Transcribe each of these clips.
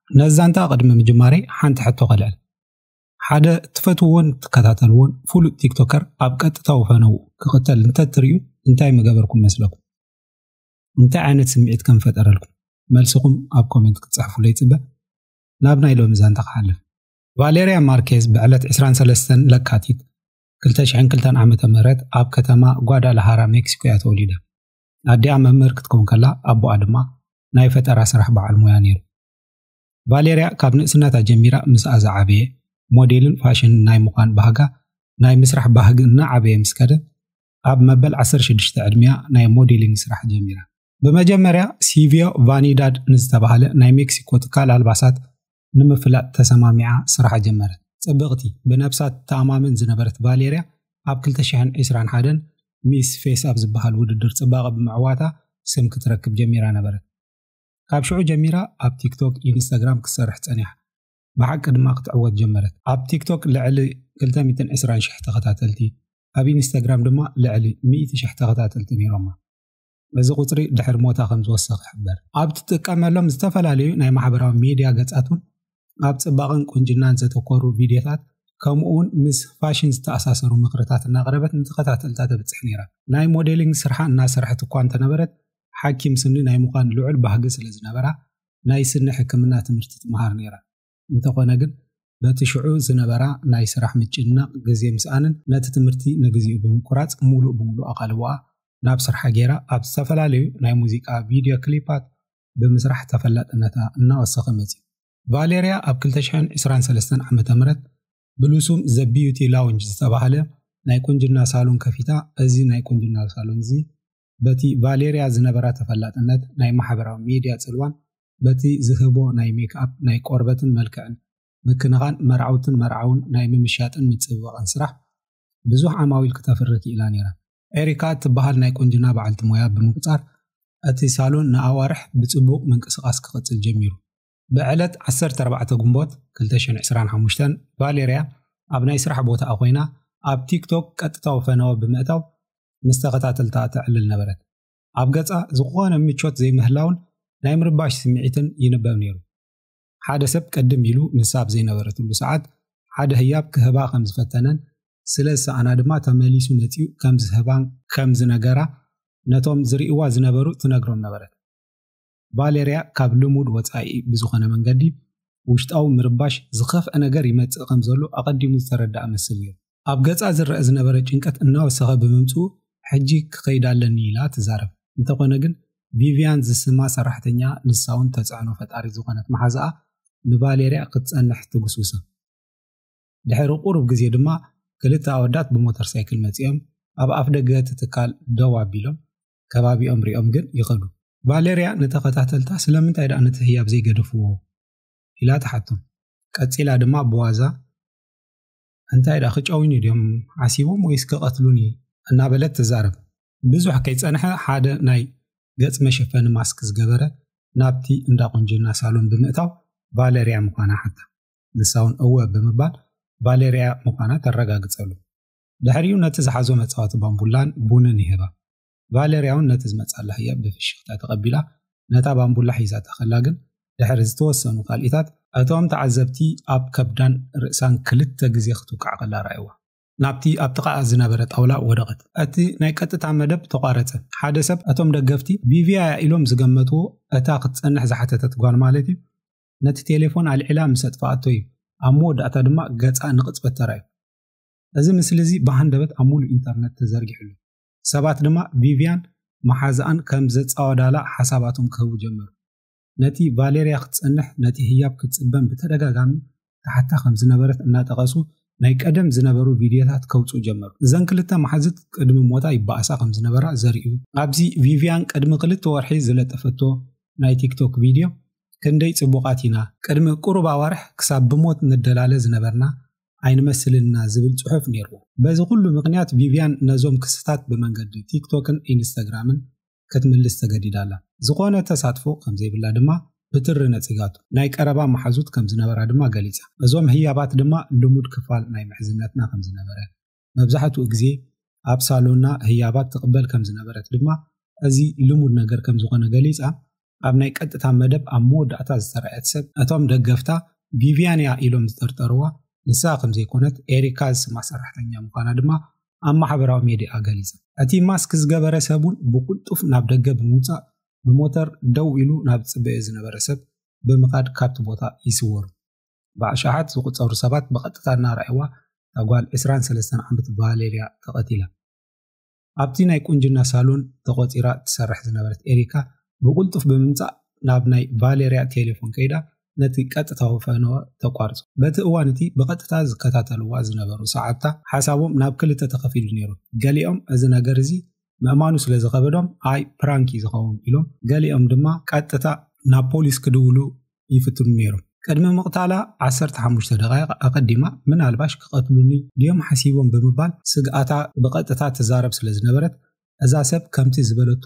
ነዚ ዛንታ ቅድሚ ምጅማረይ ሓንቲ ሕቶ ከልዕል። ሓደ እትፈትውዎን እትከታተልዎን ፍሉጥ ቲክቶከር ኣብ ቀጥታዊ ፈነው ክቕተል እንተትርእዩ እንታይ ምገበርኩም መስለኩም? እንታይ ዓይነት ስምዒት ከም ፈጠረልኩም? መልስኹም ኣብ ኮሜንት ክትጽሕፉለይ ይጽበ። ናብ ናይ ሎሚ ዛንታ ክሓልፍ። ቫሌርያ ማርኬዝ ብዕለት ዕስራን ሰለስተን ለካቲት ክልተ ሽሕን ክልተን ዓመተ ምህረት ኣብ ከተማ ጓዳላሃራ ሜክሲኮ እያ ተወሊዳ። ኣዲኣ መምህር ክትከውን ከላ ኣቦኣ ድማ ናይ ፈጠራ ስራሕ በዓል ሞያ ነይሩ። ቫሌርያ ካብ ንእስነታ ጀሚራ ምስኣ ዝዓበየ ሞዴልን ፋሽንን ናይ ምዃን ባህጋ ናይ ምስራሕ ባህጊ እናዓበየ ምስ ከደ ኣብ መበል 16 ዕድሚያ ናይ ሞዴሊንግ ስራሕ ጀሚራ። ብመጀመርያ ሲቪዮ ቫኒዳድ ንዝተባህለ ናይ ሜክሲኮ ትካል ኣልባሳት ንምፍላጥ ተሰማሚዓ ስራሓ ጀመረት። ጽብቕቲ፣ ብነብሳ ትተኣማመን ዝነበረት ቫሌርያ ኣብ ክልተ ሽሕን ዕስራን ሓደን ሚስ ፌስ ኣብ ዝበሃል ውድድር ጽባቐ ብምዕዋታ ስም ክትረክብ ጀሚራ ነበረት። ካብ ሽዑ ጀሚራ ኣብ ቲክቶክ፣ ኢንስታግራም ክትሰርሕ ጸኒሓ። ብሓቂ ድማ ክትዕወት ጀመረት። ኣብ ቲክቶክ ልዕሊ ክልተ ሚእትን ዕስራን ሽሕ ተኸታተልቲ፣ ኣብ ኢንስታግራም ድማ ልዕሊ ሚእቲ ሽሕ ተኸታተልቲ ነይሮማ። እዚ ቁፅሪ ድሕሪ ሞታ ከም ዝወሰኽ ይሕበር። ኣብ ትጥቀመሎም ዝተፈላለዩ ናይ ማሕበራዊ ሚድያ ገጻት እውን ኣብ ጽባቕን ቁንጅናን ዘተኮሩ ቪድዮታት ከምኡውን ምስ ፋሽን ዝተኣሳሰሩ ምኽርታት እናቕረበት ንተኸታተልታ ተብጽሕ ነይራ። ናይ ሞዴሊንግ ስርሓ እናሰርሐት እኳ እንተነበረት ሓኪም ስኒ ናይ ምዃን ልዑል ባህጊ ስለ ዝነበራ ናይ ስኒ ሕክምና ትምህርቲ ትምሃር ነይራ። እንተኾነ ግን በቲ ሽዑ ዝነበራ ናይ ስራሕ ምጭንናቕ ግዜ ምስኣንን ነቲ ትምህርቲ ንግዚኡ ብምቁራጽ ሙሉእ ብምሉእ ኣቓልቦኣ ናብ ስርሓ ገይራ ኣብ ዝተፈላለዩ ናይ ሙዚቃ ቪድዮ ክሊፓት ብምስራሕ ተፈላጥነታ እናወሰኸ መጺኡ። ቫሌርያ ኣብ ክልተ ሽሕን ዕስራን ሰለስተን ዓመተ ምህረት ብሉሱም ዘ ቢዩቲ ላውንጅ ዝተባህለ ናይ ቁንጅና ሳሎን ከፊታ፣ እዚ ናይ ቁንጅና ሳሎን እዚ በቲ ቫሌርያ ዝነበራ ተፈላጥነት ናይ ማሕበራዊ ሚድያ ጽልዋን በቲ ዝህቦ ናይ ሜክኣፕ ናይ ቆርበትን መልክዕን ምክንኻን መርዓውትን መርዓውን ናይ ምምሻጥን ምጽብባቕን ስራሕ ብዙሕ ዓማዊል ክተፍሪ ክኢላ ነይራ። ኤሪካ እትበሃል ናይ ቁንጅና በዓልቲ ሞያ ብምቁጻር እቲ ሳሎን ንኣዋርሕ ብጽቡቕ ምንቅስቓስ ክቕጽል ጀሚሩ። ብዕለት 14 ግንቦት 2025 ቫሌርያ ኣብ ናይ ስራሕ ቦታኣ ኮይና ኣብ ቲክቶክ ቀጥታዊ ፈነወ ብምእታው ምስ ተኸታተልታ ተዕልል ነበረት ኣብ ገጻ ዝኾነ ምቾት ዘይምህላውን ናይ ምርባሽ ስምዒትን ይንበብ ነይሩ ሓደ ሰብ ቅድም ኢሉ ንሳ ኣብ ዘይነበረትሉ ሰዓት ሓደ ህያብ ክህባ ከም ዝፈተነን ስለ ዝሰኣና ድማ ተመሊሱ መፅኡ ከም ዝህባን ከም ዝነገራ ነቶም ዝርእዋ ዝነበሩ ትነግሮም ነበረት ቫለርያ ካብ ልሙድ ወጻኢ ብዝኾነ መንገዲ ውሽጣዊ ምርባሽ ዝኸፍአ ነገር ይመጽእ ከም ዘሎ ኣቐዲሙ ዝተረድኣ መስል ነይሩ። ኣብ ገጻ ዝረኣ ዝነበረ ጭንቀት እናወሰኸ ብምምጽኡ ሕጂ ክኸይድ ኣለኒ ኢላ ትዛረብ። እንተኾነ ግን ቪቭያን ዝስማ ሰራሕተኛ ንሳውን ተጽዕኖ ፈጣሪት ዝኾነት መሓዝኣ ንቫለርያ ክትጸንሕ ትጉስጉሳ። ድሕሪ ቁሩብ ግዜ ድማ ክልተ ኣወዳት ብሞተር ሳይክል መጺኦም ኣብ ኣፍደገ እቲ ትካል ደው ኣቢሎም ከባቢኦም ሪኦም ግን ይኸዱ። ቫለርያ ንተኸታተልታ ስለምንታይ ደኣ ነቲ ህያብ ዘይገደፍዎ? ኢላ ትሓቶም። ቀጺላ ድማ ብዋዛ እንታይ ደኣ ክጨውዩኒ ድዮም ሓሲቦም ወይስ ክቐትሉኒ? እናበለት ትዛረብ። ብዙሕ ከይጸንሐ ሓደ ናይ ገጽ መሸፈኒ ማስክ ዝገበረ ናብቲ እንዳ ቁንጅና ሳሎን ብምእታው ቫለርያ ምዃና ሓታ። ንሳ እውን እወ ብምባል ቫለርያ ምዃና ተረጋግጸሉ። ድሕሪኡ ነቲ ዝሓዞ መጻወቲ ባምቡላን ቡንን ይህባ ቫለርያ እውን ነቲ ዝመጻላ ህያብ ብፍሽኽታ ተቐቢላ ነታ ባምቡላ ሒዛታ ከላ ግን ድሕሪ ዝተወሰኑ ካልኢታት እቶም ተዓዘብቲ ኣብ ከብዳን ርእሳን ክልተ ግዜ ክትውቃዕ ከላ ረኣይዋ ናብቲ ኣብ ጥቓኣ ዝነበረ ጣውላ ወደቐት እቲ ናይ ቀጥታ መደብ ተቋረጸ ሓደ ሰብ እቶም ደገፍቲ ቪቪያ ኢሎም ዝገመትዎ እታ ክትጸንሕ ዝሓተተት ጓል ማለት እዩ ነቲ ቴሌፎን ኣልዒላ ምስ ኣጥፍኣቶ እዩ ኣብ መወዳእታ ድማ ገጻ ንቕጽበት ተራእዩ እዚ ምስሊ እዚ ብሃንደበት ኣብ ሙሉእ ኢንተርነት ተዘርጊሑ ኣሎ። ሰባት ድማ ቪቭያን መሓዝኣን ከም ዘጻወዳላ ሓሳባቶም ክህቡ ጀመሩ። ነቲ ቫሌርያ ክትጸንሕ ነቲ ህያብ ክትጽበን ብተደጋጋሚ ትሓታ ከም ዝነበረት እናጠቐሱ ናይ ቀደም ዝነበሩ ቪድዮታት ከውጽኡ ጀመሩ። እዘን ክልተ መሓዝት ቅድሚ ሞታ ይበኣሳ ከም ዝነበራ ዘርእዩ። ኣብዚ ቪቭያን ቅድሚ ክልተ ወርሒ ዝለጠፈቶ ናይ ቲክቶክ ቪድዮ ክንደይ ጽቡቓት ኢና! ቅድሚ ቁሩብ ኣዋርሕ ክሳብ ብሞት ንደላለ ዝነበርና ኣይንመስልንና ዝብል ጽሑፍ ነይርዎ። በዚ ኩሉ ምኽንያት ቪቭያን ነዞም ክስታት ብመንገዲ ቲክቶክን ኢንስታግራምን ክትምልስ ተገዲዳ ኣላ። ዝኾነ ተሳትፎ ከም ዘይብላ ድማ ብትሪ ነጺጋቶ። ናይ ቀረባ መሓዙት ከም ዝነበራ ድማ ገሊጻ። እዞም ህያባት ድማ ልሙድ ክፋል ናይ ምሕዝነትና ከም ዝነበረ፣ መብዛሕትኡ ግዜ ኣብ ሳሎና ህያባት ትቕበል ከም ዝነበረት ድማ እዚ ልሙድ ነገር ከም ዝኾነ ገሊጻ ኣብ ናይ ቀጥታ መደብ ኣብ መወዳእታ ዝተረኣየት ሰብ እቶም ደገፍታ ቪቪያን እያ ኢሎም ዝጠርጠርዋ ንሳ ከም ዘይኮነት ኤሪካ ዝስማ ሰራሕተኛ ምዃና ድማ ኣብ ማሕበራዊ ሜድያ ገሊጻ እቲ ማስክ ዝገበረ ሰብ እውን ብቁልጡፍ ናብ ደገ ብምውፃእ ብሞተር ደው ኢሉ ናብ ዝፅበዮ ዝነበረ ሰብ ብምኻድ ካብቲ ቦታ ይስወሩ ብኣሽሓት ዝቑፀሩ ሰባት ብቐጥታ እናረኣይዋ እታ ጓል 23 ዓመት በሃሌል እያ ተቐቲላ። ኣብቲ ናይ ቁንጅና ሳሎን ተቖፂራ ትሰርሕ ዝነበረት ኤሪካ ብቕልጡፍ ብምምፃእ ናብ ናይ ቫሌርያ ቴሌፎን ከይዳ ነቲ ቀጥታዊ ፈነወ ተቋርፁ። በቲ እዋን እቲ ብቐጥታ ዝከታተልዋ ዝነበሩ ሰዓብታ ሓሳቦም ናብ ክልተ ተኸፊሉ ነይሩ። ገሊኦም እዚ ነገር እዚ ምእማኑ ስለ ዝኸበዶም ኣይ ፕራንክ እዩ ዝኸውን ኢሎም፣ ገሊኦም ድማ ቀጥታ ናብ ፖሊስ ክድውሉ ይፍትኑ ነይሮም። ቅድሚ ምቕታላ ዓሰርተ ሓሙሽተ ደቓይቕ ኣቐዲማ ምናልባሽ ክቐትሉኒ ድዮም ሓሲቦም ብምባል ስግኣታ ብቐጥታ ትዛረብ ስለ ዝነበረት፣ እዛ ሰብ ከምቲ ዝበለቶ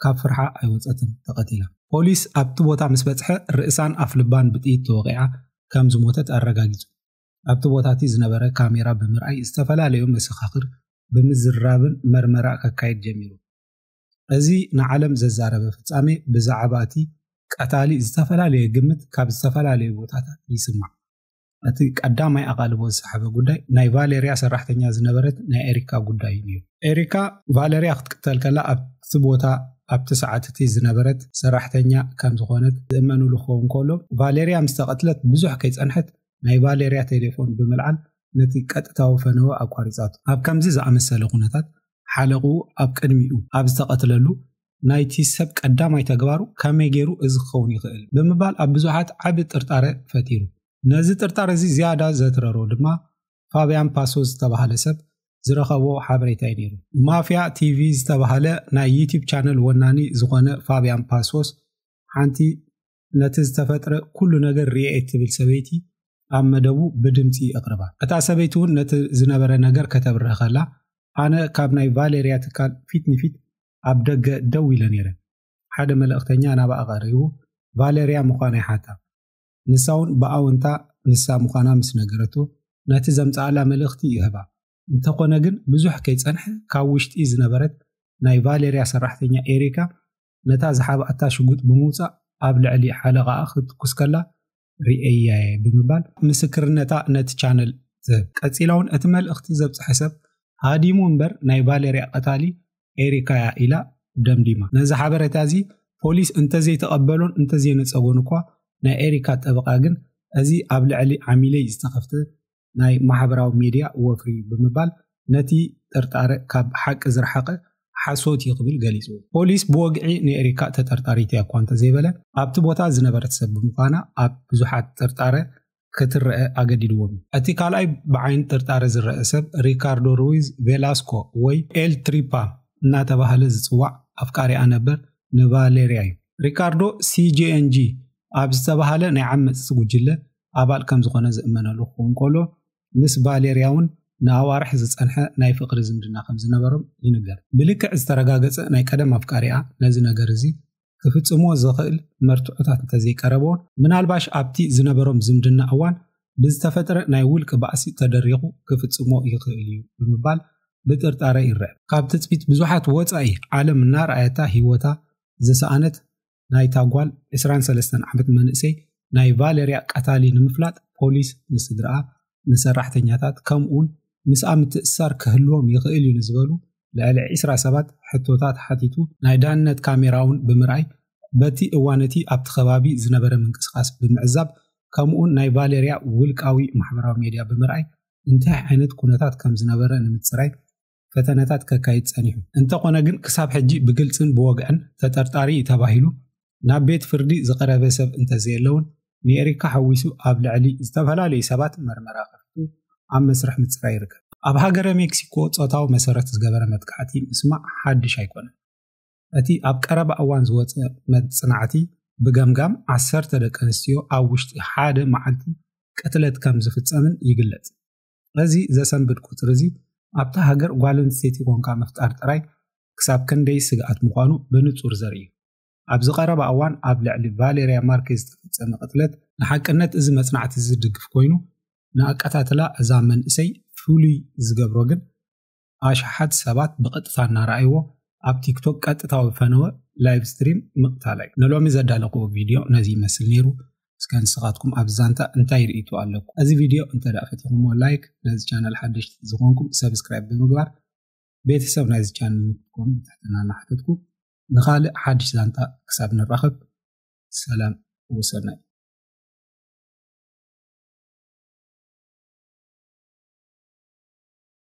ካብ ፍርሓ ኣይወጸትን፣ ተቐቲላ። ፖሊስ ኣብቲ ቦታ ምስ በጽሐ ርእሳን ኣፍልባን ብጥይት ተወቒዓ ከም ዝሞተት ኣረጋጊጹ። ኣብቲ ቦታቲ ዝነበረ ካሜራ ብምርኣይ ዝተፈላለዩ መሰኻኽር ብምዝራብን መርመራ ከካይድ ጀሚሩ። እዚ ንዓለም ዘዛረበ ፍጻሜ ብዛዕባ እቲ ቀታሊ ዝተፈላለየ ግምት ካብ ዝተፈላለየ ቦታታት ይስማዕ። እቲ ቀዳማይ ኣቓልቦ ዝሰሓበ ጉዳይ ናይ ቫለርያ ሰራሕተኛ ዝነበረት ናይ ኤሪካ ጉዳይ እዩ። ኤሪካ ቫለርያ ክትቅተል ከላ ኣብቲ ቦታ ኣብቲ ሰዓት እቲ ዝነበረት ሰራሕተኛ ከም ዝኾነት ዝእመኑሉ ክኸውን ከሎ ቫለርያ ምስ ተቐትለት ብዙሕ ከይጸንሐት ናይ ቫለርያ ቴሌፎን ብምልዓል ነቲ ቀጥታዊ ፈነወ ኣቋሪጻቱ። ኣብ ከምዚ ዝኣመሰለ ኩነታት ሓለቕኡ ኣብ ቅድሚኡ ኣብ ዝተቐትለሉ ናይቲ ሰብ ቀዳማይ ተግባሩ ከመይ ገይሩ እዚ ክኸውን ይኽእል ብምባል ኣብ ብዙሓት ዓቢ ጥርጣረ ፈጢሩ። ነዚ ጥርጣረ እዚ ዝያዳ ዘትረሮ ድማ ፋብያን ፓሶ ዝተባህለ ሰብ ዝረኸቦ ሓበሬታ እዩ ነይሩ። ማፍያ ቲቪ ዝተባህለ ናይ ዩትዩብ ቻነል ወናኒ ዝኾነ ፋብያን ፓሶስ ሓንቲ ነቲ ዝተፈጥረ ኩሉ ነገር ርኤ እትብል ሰበይቲ ኣብ መደቡ ብድምፂ ኣቕርባ። እታ ሰበይቲ እውን ነቲ ዝነበረ ነገር ከተብርህ ከላ ኣነ ካብ ናይ ቫሌርያ ትካል ፊት ንፊት ኣብ ደገ ደው ኢለ ነይረ። ሓደ መልእኽተኛ ናብኣ ቀሪቡ ቫሌርያ ምዃና ይሓታ። ንሳ እውን ብኣውንታ ንሳ ምዃና ምስ ነገረቶ ነቲ ዘምጽኣላ መልእኽቲ ይህባ። እንተኾነ ግን ብዙሕ ከይጸንሐ ካብ ውሽጢ ዝነበረት ናይ ቫሌርያ ሰራሕተኛ ኤሪካ ነታ ዝሓብኣታ ሽጉጥ ብምውፃእ ኣብ ልዕሊ ሓለቓኣ ክትኩስ ከላ ርእየያየ ብምባል ምስክርነታ ነቲ ቻነል ትህብ ቀፂላ እውን እቲ መልእኽቲ ዘብፅሐ ሰብ ሃዲሙ እምበር ናይ ቫለርያ ቀታሊ ኤሪካያ ኢላ ደምዲማ ነዚ ሓበሬታ እዚ ፖሊስ እንተዘይተቐበሎን እንተዘይነፀጎን እኳ ናይ ኤሪካ ጠበቓ ግን እዚ ኣብ ልዕሊ ዓሚለይ ዝተኸፍተ ናይ ማሕበራዊ ሜድያ ወፍሪ እዩ ብምባል ነቲ ጥርጣረ ካብ ሓቂ ዝረሓቐ ሓሶት እዩ ክብል ገሊጹ። ፖሊስ ብወግዒ ንኤሪካ ተጠርጣሪት እያ እኳ እንተዘይበለ ኣብቲ ቦታ ዝነበረት ሰብ ብምዃና ኣብ ብዙሓት ጥርጣረ ክትረአ ኣገዲድዎም እዩ። እቲ ካልኣይ ብዓይኒ ጥርጣረ ዝረአ ሰብ ሪካርዶ ሩዊዝ ቬላስኮ ወይ ኤል ትሪፓ እናተባህለ ዝጽዋዕ ኣፍቃሪኣ ነበር ንቫሌርያ እዩ። ሪካርዶ ሲጄኤንጂ ኣብ ዝተባህለ ናይ ዓመጽቲ ጉጅለ ኣባል ከም ዝዀነ ዝእመነሉ ክኸውን ከሎ፣ ምስ ቫሌርያ'ውን ንኣዋርሕ ዝጸንሐ ናይ ፍቕሪ ዝምድና ከም ዝነበሮም ይንገር። ብልክዕ ዝተረጋገጸ ናይ ቀደም ኣፍቃሪኣ ነዚ ነገር እዚ ክፍጽምዎ ዘኽእል መርትዖታት እንተ ዘይቀረብዎ፣ ምናልባሽ ኣብቲ ዝነበሮም ዝምድና እዋን ብዝተፈጥረ ናይ ውልቂ ባእሲ ተደሪኹ ክፍጽሞ ይኽእል እዩ ብምባል ብጥርጣረ ይርአ። ካብ ትጽቢት ብዙሓት ወጻኢ ዓለም እናርኣየታ ህይወታ ዝሰኣነት ናይታ ጓል 23 ዓመት መንእሰይ ናይ ቫለርያ ቀታሊ ንምፍላጥ ፖሊስ ንስድርኣ፣ ንሰራሕተኛታት ከምኡውን ምስኣ ምትእስሳር ክህልዎም ይኽእል እዩ ንዝበሉ ልዕሊ ዒስራ ሰባት ሕቶታት ሓቲቱ ናይ ዳህነት ካሜራ እውን ብምርኣይ በቲ እዋን እቲ ኣብቲ ከባቢ ዝነበረ ምንቅስቓስ ብምዕዛብ ከምኡውን ናይ ቫሌርያ ውልቃዊ ማሕበራዊ ሜድያ ብምርኣይ እንታይ ዓይነት ኩነታት ከም ዝነበረ ንምፅራይ ፈተነታት ከካይድ ጸኒሑ። እንተኾነ ግን ክሳብ ሕጂ ብግልጽን ብወግዕን ተጠርጣሪ እዩ ተባሂሉ ናብ ቤት ፍርዲ ዝቐረበ ሰብ እንተዘየለውን ንኤሪካ ሓዊሱ ኣብ ልዕሊ ዝተፈላለዩ ሰባት መርመራ ከፊቱ ኣብ መስርሕ ምጽራይ ይርከብ። ኣብ ሃገረ ሜክሲኮ ጾታዊ መሰረት ዝገበረ መጥቃዕቲ ምስማዕ ሓድሽ ኣይኮነን። እቲ ኣብ ቀረባ እዋን ዝወጸ መጽናዕቲ ብገምጋም ዓሰርተ ደቂ ኣንስትዮ ኣብ ውሽጢ ሓደ መዓልቲ ቅትለት ከም ዝፍጸምን ይግለጽ። ነዚ ዘሰንብድ ቁጽሪ እዚ ኣብታ ሃገር ጓል ኣንስተይቲ ኮንካ ምፍጣር ጥራይ ክሳብ ክንደይ ስግኣት ምዃኑ ብንጹር ዘርኢ እዩ። ኣብዚ ቀረባ እዋን ኣብ ልዕሊ ቫሌርያ ማርኬዝ ዝተፈጸመ ቅትለት ንሓቅነት እዚ መጽናዕቲ እዚ ዝድግፍ ኮይኑ፣ ንኣቀታትላ እዛ መንእሰይ ፍሉይ ዝገብሮ ግን ኣሽሓት ሰባት ብቐጥታ እናረኣይዎ ኣብ ቲክቶክ ቀጥታዊ ፈነወ ላይቭ ስትሪም ምቕታላይ ንሎሚ ዘዳለኽዎ ቪድዮ ነዚ ይመስል ነይሩ እስከ ንስኻትኩም ኣብ ዛንታ እንታይ ርእይቶ ኣለኩም? እዚ ቪድዮ እንተ ደኣ ፈቲኹሞ ላይክ፣ ነዚ ቻነል ሓደሽቲ ዝኾንኩም ሰብስክራይብ ብምግባር ቤተሰብ ናይዚ ቻነል ንክትኮኑ ብትሕትና እናሓተትኩ ንኻልእ ሓድሽ ዛንታ ክሳብ ንራኸብ ሰላም ወሰናይ